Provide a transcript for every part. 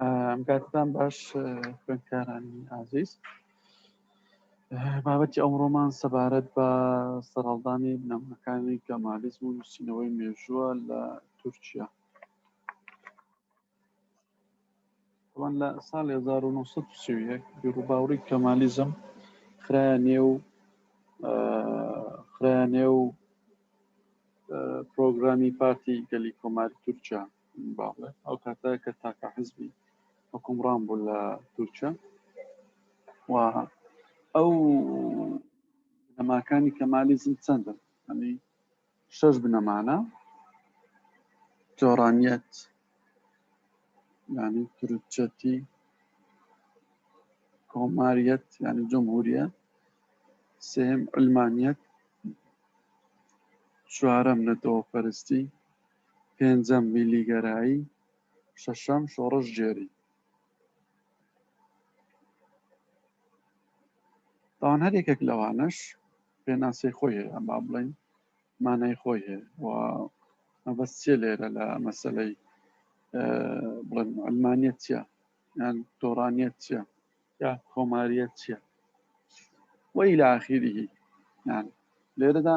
ئەمکاتتان باش خوێندکارانی ئازیز بابەتی ئەمڕۆمان سەبارەت بە سەرهەڵدانی بنەمەکانی گەمالیزم و نووسینەوەی مێژووە لە تورکیا ئەوان لە سال 1930 بیرروباوری کەمالیزم خرا نێو خرا نێو پرۆگرامی پارتی گەلی کۆماری تورکیا بەڵێ ئەو کاتە کە تاکە حزبی حکومڕان بوو لە تورکیا و ئەو بنەماکانی کەمالیزم چەندن ئەنی شەش بنەمانە جۆرانیت ینی ترچەتی کۆماریت ینی جمهوریە سێم علمانیت چوارەم نەتەوە پەرستی پێنجەم، میللیگەرایی، شەشەم، شۆڕشگێری. تاوان هەر یەکێک لەوانەش پێناسەی خۆی هەیە با بڵین مانای خۆی هەیە و مەبەست چێ لێرە لە مەسلەی بڵێن ئەلمانیت چیە یان تۆرانیت چیە یا کۆماریت چیە وەی لە ئاخیری یان لێرەدا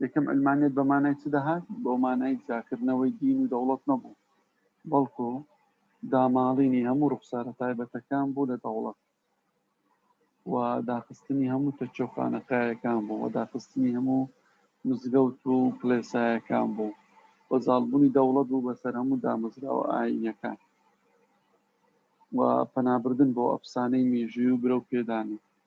یەکەم عەلمانیەت بە مانای چ دەهات؟ بە مانای جیاکردنەوەی دین و دەوڵەت نەبوو، بەڵکو داماڵینی هەموو ڕوخسارە تایبەتەکان بوو لە دەوڵەت و داخستنی هەموو تەکیە و خانەقایەکان بوو و داخستنی هەموو مزگەوت و کلێسایەکان بوو و زاڵبوونی دەوڵەت بوو بەسەر هەموو دامەزراوە ئاینەکان و پەنابردن بۆ ئەفسانەی مێژوی و برەو پێدانی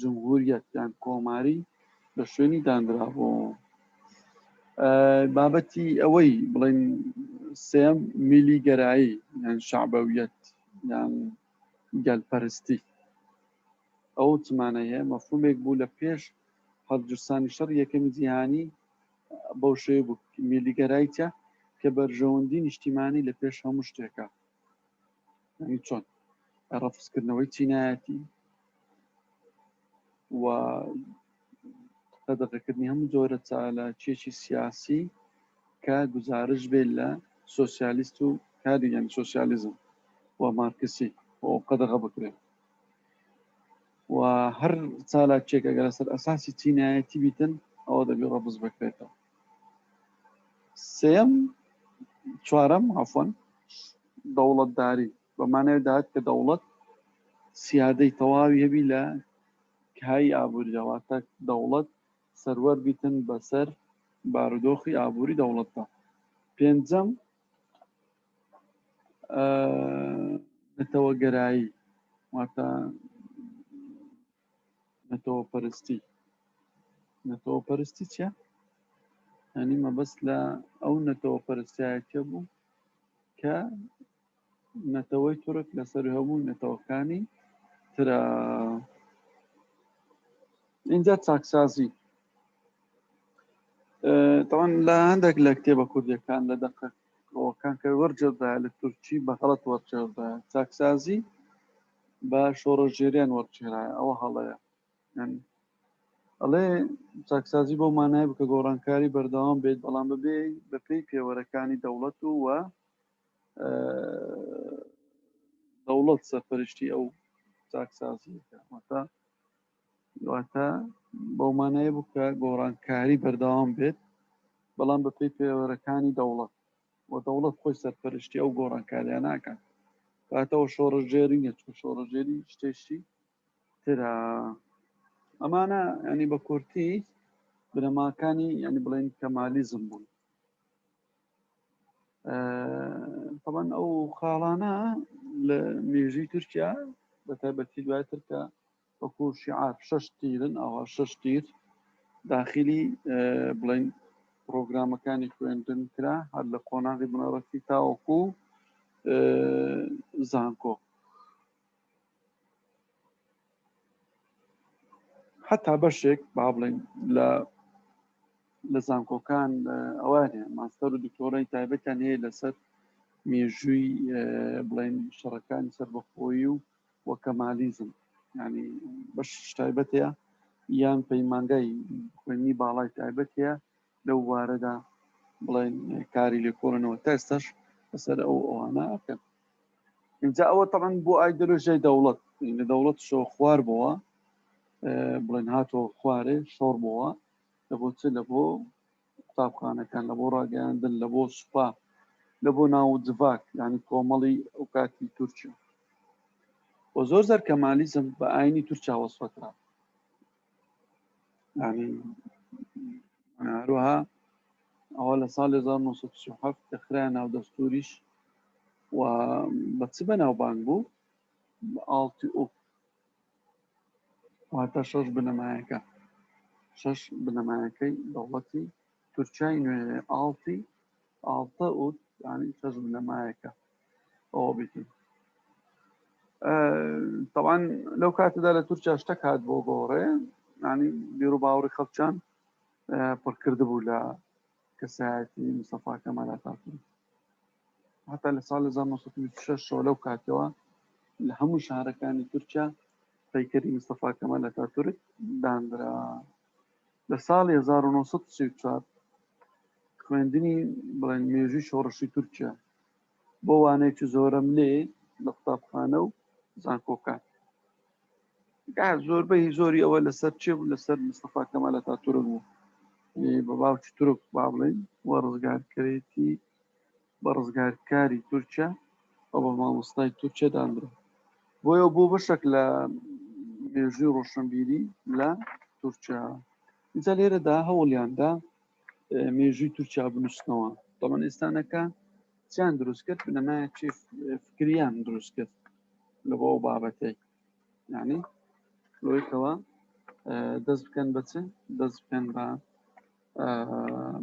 جمهوریەت یان کۆماری لە شوێنی دانرابوو بابەتی ئەوەی بڵین سێم میلی گەرایی یان شعبەویەت یان گەلپەرستی ئەو چمانە هەیە مەفهومێک بوو لە پێش هەڵجستانی شەڕ یەکەمی جیهانی بەو شێ بوو میلیگەرایتە کە بەرژەوەندی نیشتیمانی لە پێش هەموو شتێکە یعنی چۆن ڕەفزکردنەوەی چینایەتی و قەدەغەکردنی هەموو جۆرە چالاکیەکی سیاسی کە گزارش بێت لە سوسیالیست و کاریگەن سوسیالیزم و مارکسی بۆ قەدەغە بکرێت و هەر چالاکێک ئەگەر سەر ئەساسی چینایەتی بیتن ئەوە دەبێ ڕەبز بکرێتەوە سێم چوارەم عفۆن دەوڵەتداری بەمانەوە داات کە دەوڵەت سیادەی تەواوی هەبی لە کای ئابووریەوەتە دەوڵەت سەروەر بیتن بەسەر بارودۆخی ئابووری دەوڵەتدا پێنجەم نەتەوەگەرایی واتە نەتەوە پەرستی نەتەوە پەرستی چە هەنی مەبەست لە ئەو نەتەوە پەرستایەتە بوو کە نەتەوەی تورک لەسەر هەموو نەتەوەکانی ترە اینجا چاکسازی تەوان لە هەندێک لە کتێبە کوردەکان لە دەقە ئەوەکان کە وەرجێدا لە تورکی بەغڵەت وەرجێدا چاکسازی با شۆڕشگێریان وەرچێرایە ئەوە هەڵەیە یانی ئەڵێ چاکسازی بەو مانای بکە گۆڕانکاری بەردەوام بێت بەڵام بەبێ بەپێی پێوەرەکانی دەوڵەت و وە دەوڵەت سەرپەرشتی ئەو چاکسازیەکە واتە واتە بەو مانای بکە گۆڕانکاری بەردەوام بێت بەڵام بەپێی پێوەرەکانی دەوڵەت و دەوڵەت خۆی سەرپەرشتی ئەو گۆڕانکارییە ناکات کاتەوە شۆڕژێری نیە چکە شۆڕژێری شتێشتی ترە ئەمانە ینی بە کورتی بنەماکانی ینی بڵێن کەمالیزم بوون تەبەن ئەو خاڵانە لە مێژوی تورکیا بە تایبەتی دوای ترکە وەکو شیعار شەش تیرن ئەوا شەش تیر داخلی بڵین پرۆگرامەکانی خوێندن کرا هەر لە قۆناغی بنەڕەتی تاوەکو زانکۆ حتا بەشێک با بڵین لە لە زانکۆکان ئەوانێ ماستەر و دکتۆرەی تایبەتیان هەیە لەسەر مێژووی بڵین شەڕەکانی سەربەخۆی و و کەمالیزم یانی بەشیش تایبەت هەیە یان پەیمانگای خوێندنی باڵای تایبەت هەیە لەو وارەدا بڵێن کاری لێکۆڵنەوە تا ئێستاش بەسەر ئەو ئەوانە ئەکەن اینجا ئەوە تەعەن بۆ ئایدۆلۆژیای دەوڵەت لە دەوڵەت شۆ خوار بووە بڵێن هاتۆ خوارێ شۆڕ بووە لە بۆ چ لە بۆ قوتابخانەکان لە بۆ ڕاگەیاندن لە بۆ سوپا لە بۆ ناو جڤاک ینی کۆمەڵی ئەو کاتی تورکیا و زۆر زەر کەمالیزم بە ئاینی تورکیا وەسفەکرا هەروەها ئەوە لە ساڵ 1970 کە خرا ناو دەستوریش و بە چ بەناوبانگ بوو ئاڵتی ئۆپ واتە شەش بنەمایەکە شەش بنەمایەکەی دەوڵەتی تورکیای نوێ ئاڵتی ئاڵتە و ینی شەش بنەمایەکە ئەوە بکەین تەوان لەو کاتەدا لە تورکیا شتەک هات بۆ گۆڕێ ینی بیر و باوڕی خەڵچان پڕکرد بوو لە کەسایەتی مسەفاکە مەلاتاتون هەتا لە ساڵ 1926 ەوە لەو کاتەوە لە هەموو شارەکانی تورکیا پەیکەری مستەفا کەمال لە تاتورک دانرا لە ساڵی 1934 خوێندنی بڵێن مێژوی شۆڕشی تورکیا بۆ وانێکی زۆرم لێ لە قوتابخانە و زانکۆکان زۆربەی زۆری ئەوە لەسەر چێ بوو لەسەر مستەفا کەمالە تا تورک بوو بە باوکی تورک با بڵێن وە ڕزگارکرێتی بە ڕزگارکاری تورکیا و بە مامۆستای تورکیا دانرا بۆیە بۆ بەشێک لە مێژوی ڕۆشنبیری لە تورکیا ئینجا لێرەدا هەوڵیاندا مێژوی تورکیا بنووسنەوە دەڵەن ئێستانەکە چیان دروست کرد بنەمایە چی فکریان دروست کرد لە بۆ ئەو بابەتەی یعنی لۆیتەوە دەست بکەن بەچ دەست بکەن بە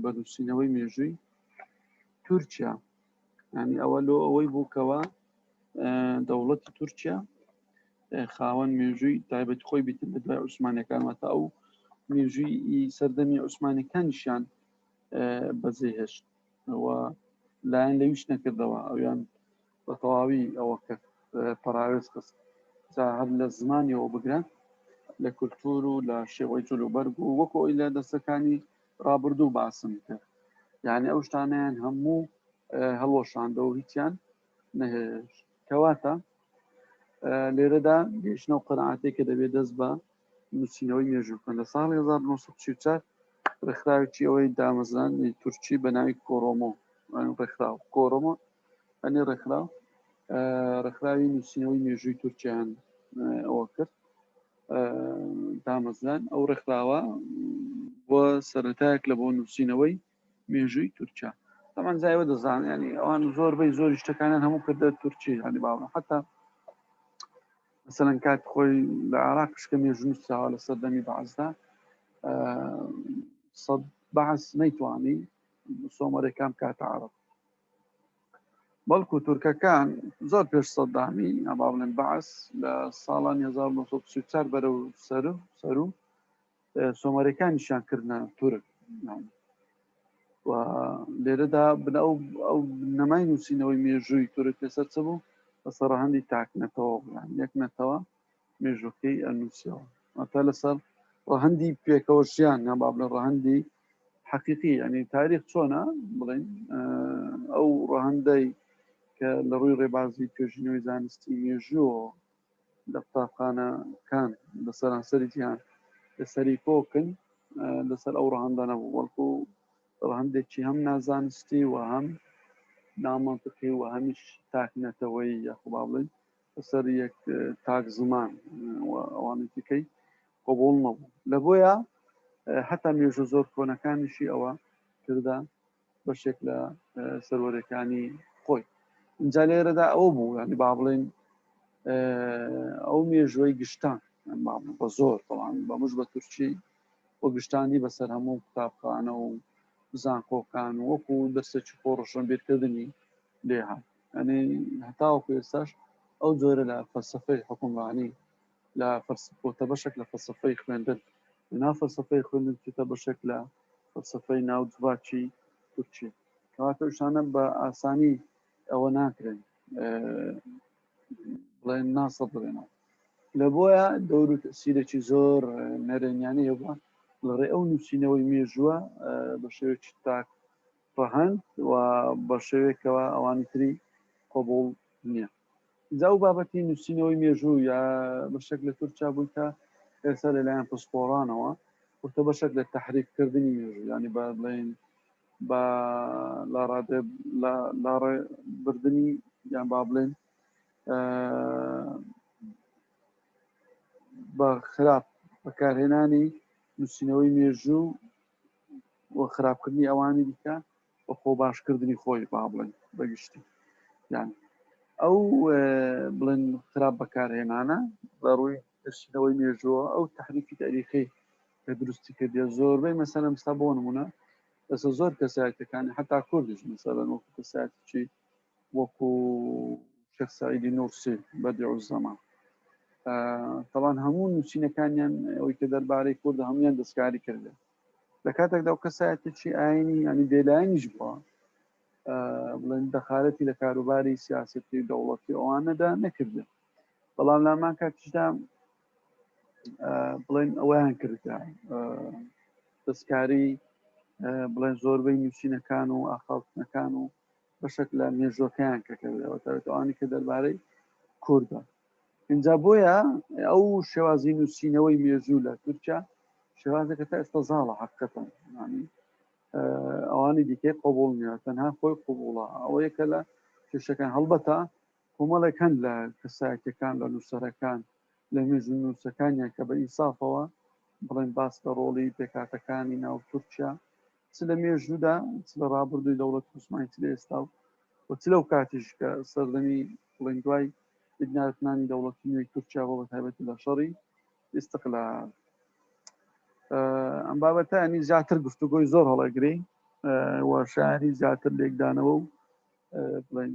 بە نووسینەوەی مێژووی تورکیا ینی ئەوە لۆ ئەوەی بووکەوە دەوڵەتی تورکیا خاوەن مێژووی تایبەت خۆی بیتن لە دوای عوسمانەکان واتە ئەو مێژووی سەردەمی عوسمانەکانیشان بەزێ هێشت ئەوە لایەن لەویش نەکردەوە ئەویان بە تەواوی ئەوە کە پەراوێز خست جا هەر لە زمانیەوە بگرە لە کولتور و لە شێوەی جلوبەرگ و وەکۆ ئەوی لە دەستەکانی ڕابردوو باسم کرد یعنی ئەو شتانیان هەموو هەڵوەشاندە و هیچیان نەهێش کەواتە لێرەدا گەیشتنە و قەنعاتێک کە دەبێت دەست بە نووسینەوەی مێژوو بکەن لە ساڵی 1940 ڕێکخراوێکی ئەوەی دامەزرانی تورکی بە ناوی کۆرۆمۆ ڕێکخراو کۆرۆمۆ ئەنی ڕێکخراو ڕێکخراوی نووسینەوەی مێژووی تورکیان ئەوە کرد دامەزران ئەو ڕێکخراوە بۆ سەرەتایەک لە بۆ نووسینەوەی مێژووی تورکیا تەمان زایوە دەزان ینی ئەوان زۆر بەی زۆر شتەکانیان هەموو کردە تورکی هەنی باوە حتا مثلەن کات خۆی لە عراق شکە مێژوو نووسراوە لە سەردەمی بەعزدا سەد بەعس نەیتوانی سۆمەرەکان کاتە عرب بەڵکو تورکەکان زۆر پێش سەدامی یا با بڵێن بەعس لە ساڵانی 1934 بەرەو سەرو سەرو سۆمەرەکانیشان کردە تورک و لێرەدا بن ئەو ئەو نەمای نووسینەوەی مێژووی تورک لەسەر چ بوو بەسەڕەهندی تاک نەتەوە یان یەک نەتەوە مێژووەکەی ئەنووسیەوە ئەتا لەسەر ڕەهندی پێکەوە ژیان یا با بڵێ ڕەهندی حەقیقی ینی تاریخ چۆنە بڵین ئەو ڕەهندەی کە لە ڕووی ڕێبازی توێژینەوەی زانستی مێژووە لە قوتابخانەکان لە سەرانسەری جیان لە سەری کۆکن لەسەر ئەو ڕەهندە نەبوو وەڵکو ڕەهندێکی هەم نازانستی و هەم نامەنتقی و هەمیش تاکنەتەوەی یاخبا بڵین بەسەر یەک تاک زمان و ئەوانی دیکەی قۆبوڵ نەبوو لە بۆیە هەتا مێژوو زۆر کۆنەکانیشی ئەوە کردە بەشێک لە سەرۆرەکانی خۆی اینجا لێرەدا ئەوە بوو ینی با بڵێن ئەو مێژوەی گشتان بە زۆر بەڵام بەمش بە تورکی و گشتانی بەسەر هەموو قوتابخانە و زانکۆکان وەکو دەستێکی خۆڕشن بیرکردنی لێهات ئەنی هەتاوەکو ئێستاش ئەو جۆرە لە فەلسفەی حکومڕانی لە فەرسپۆتە بەشێک لە فەلسفەی خوێندن لەنا فەلسفەی خوێندن چیتە بەشێک لە فەلسفەی ناو جڤاکی تورکی کەواتە شانە بە ئاسانی ئەوە ناکرێن بڵێن ناسە بڵێنەوە لە بۆیە دەور و سیرێکی زۆر نەرێنیانی هەبووە لەڕێ ئەو نووسینەوەی مێژووە بە شێوێکی تاک ڕەهەند و بە شێوەیەک کەوا ئەوانی تری قبوڵ نیە جا ئەو بابەتی نووسینەوەی مێژوو یا بەشێک لە تورکیا بووی کە ئێستا لەلایەن پسپۆڕانەوە وتە بەشێک لە تحریک کردنی مێژوو ینی بە بڵین بە لاڕادێ لاڕێ بردننی یان با بڵێن بە خراپ بەکارهێنانی نووسینەوەی مێژوو و خراپکردنی ئەوانی دیکە و خۆ باشکردنی خۆی با بڵێن بەگشتی یان ئەو بڵێن خراپ بەکارهێنانە بە ڕووی دەرچینەوەی مێژووە ئەو تحریفی تاریخی کە دروستی کردە زۆربەی مەسەلە مستا بۆ نمونە لەسە زۆر کەسایەتەکانی حتا کوردش مەسەلەن وەکو کەسایەتی وەکو شێخ سعیدی نورسی بەدیع الزەمان تەوان هەموو نووسینەکانیان ئەوی کە دەربارەی کورد هەمویان دەستکاری کردێ لە کاتێکدا و کەسایەتێکی ئاینی ینی بێلایەنیش بووە بڵێن دەخارەتی لە کاروباری سیاستی دەوڵەتی ئەوانەدا نەکردێ بەڵام لامان کاتیشدا بڵێن ئەویان کردە دەستکاری بڵێن زۆربەی نووسینەکان و ئاخاوتنەکان و بەشێک لە مێژووەکەیان کە کردەوە تاێت ئەوانی کە دەربارەی کوردە اینجا بۆیە ئەو شێوازی نووسینەوەی مێژوو لە تورکیا شێوازەکە تا ئێستا زاڵە حقەتەن ینی ئەوانی دیکەی قوبول نیە تەنها خۆی قوبوڵە ئەوە یەکە لە کێشەکان هەڵبەتە کۆمەڵێک هەند لە کەسایەتەکان لە نووسەرەکان لە مێژوو نووسەکانیان کە بە ئینسافەوە بڵێن باس لە ڕۆڵی پێکاتەکانی ناو تورکیا چ لە مێژوودا چ لە ڕابردووی دەوڵەت عوسمانی چ لە ئێستا و و چ لەو کاتیش کە سەردەمی بڵێن دوای بنیاتنانی دەوڵەتی نوێی تورکیا بۆ بە تایبەتی لە شەڕی ئیستقلال ئەم بابەتانی زیاتر گفتوگۆی زۆر هەڵەگری و شاری زیاتر لێکدانەوە و بڵێن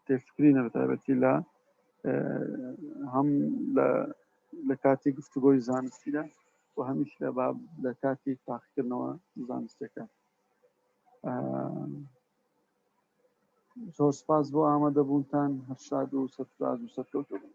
تێکچکرینە بە تایبەتی لە هەم لە کاتی گفتوگۆی زانستیدا و هەمیش لە باب لە کاتی تاقیکردنەوە زانستەکە زۆر سپاس بۆ ئامادەبوونتان هەرشاد و سەرفراز و سەرکەوتە بوون